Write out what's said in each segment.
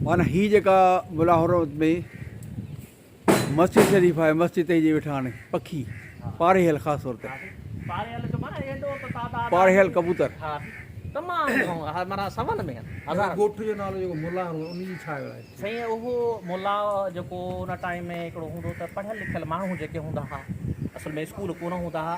معنيٰ هي جيڪا ملا حرمت ۾ مسجد شريف آهي مسجد تي جي ويٺا آهن پکي پارهيل خاص طور تي پارهيل ڪبوتر تمام معنيٰ سون ۾ هزار ڳوٺ جو نالو جيڪو ملا حرمت ان جي ڇا آهي سائين اهو ملا جيڪو ان ٽائيم ۾ هڪڙو هوندو ته پڙهيل لکيل ماڻهو جيڪي هوندا ها اصل ۾ اسڪول ڪونه هوندا ها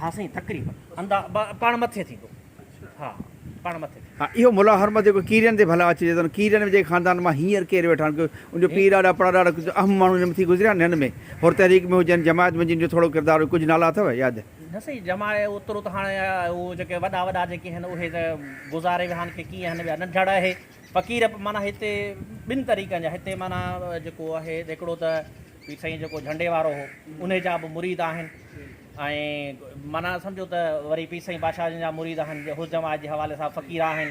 ها سائين تقريبن اندا با پاڻ مٿي ٿيندو ها پاڻ مٿي ٿيندو. ها اهو ملا حرمت جيڪو ڪيرين تي ڀلا اچي جيتوڻيڪ ڪيرين جي خاندان مان هينئر ڪير ويٺا آهن ان جو پيء ڏاڏا پڙاڏاڏا ڪجهه اهم ماڻهو هن مٿي گذريا آهن هن ۾ حر تحريڪ ۾ هجن جماعت ۾ هجن جو ٿورو ڪردار هو ڪجهه نالا اٿو ياد؟ نه سائين جماع اوترو ته هاڻي هو جيڪي وڏا وڏا جيڪي آهن اهي ته گذاري ويا آهن ڪي ڪيئن آهن ٻيا ننڍڙ اهي فقير معنيٰ هتي ٻن طريقن جا هتي معنيٰ جيڪو آهي هڪڙو ته پير سائين جيڪو جهنڊي وارو هو انهي جا به مريد آهن ۽ معنيٰ سمجهو ته وري پير سائين بادشاهه جن جا مريد آهن جي حسن جماعت جي حوالي سان فقير آهن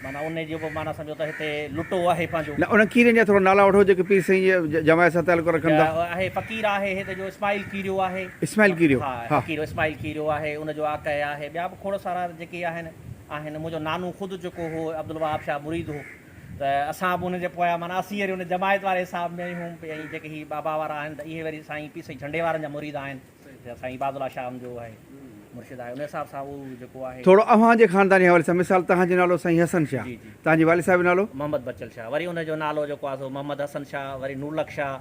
معنيٰ انهي جو به معنيٰ سمجهو ته هتي لٽو آهي پنهنجو. نه انهن کيرين جا ٿورا نالا وٺو جيڪي پير سائين جي جماعت سان تعلق رکن ٿا. آهي فقير آهي هت جو اسماعيل کيريو آهي. اسماعيل کيريو ها. ها فقير اسماعيل کيريو آهي ان جو آقهه آهي ٻيا به کوڙ سارا جيڪي آهن آهن منهنجو نانو خود جيڪو هو عبدالوهاب شاهه مريد هو. ته اسان به ان جي پويان معنيٰ اسين وري ان جماعت واري حساب ۾ آهيون ۽ جيڪي هي بابا وارا آهن ته اهي وري سائين پير سائين جهنڊي وارن جا مريد آهن جيڪو سائين عباد الله شام جو آهي مرشد آهي ان حساب سان اهو جيڪو آهي. ٿورو اوهان جي خاندان جي حوالي سان مثال توهان جو نالو سائين حسن شاهه جي جي توهان جي والد صاحب جو نالو؟ محمد بچل شاهه وري ان جو نالو جيڪو آهي سو محمد حسن شاهه وري نورلک شاهه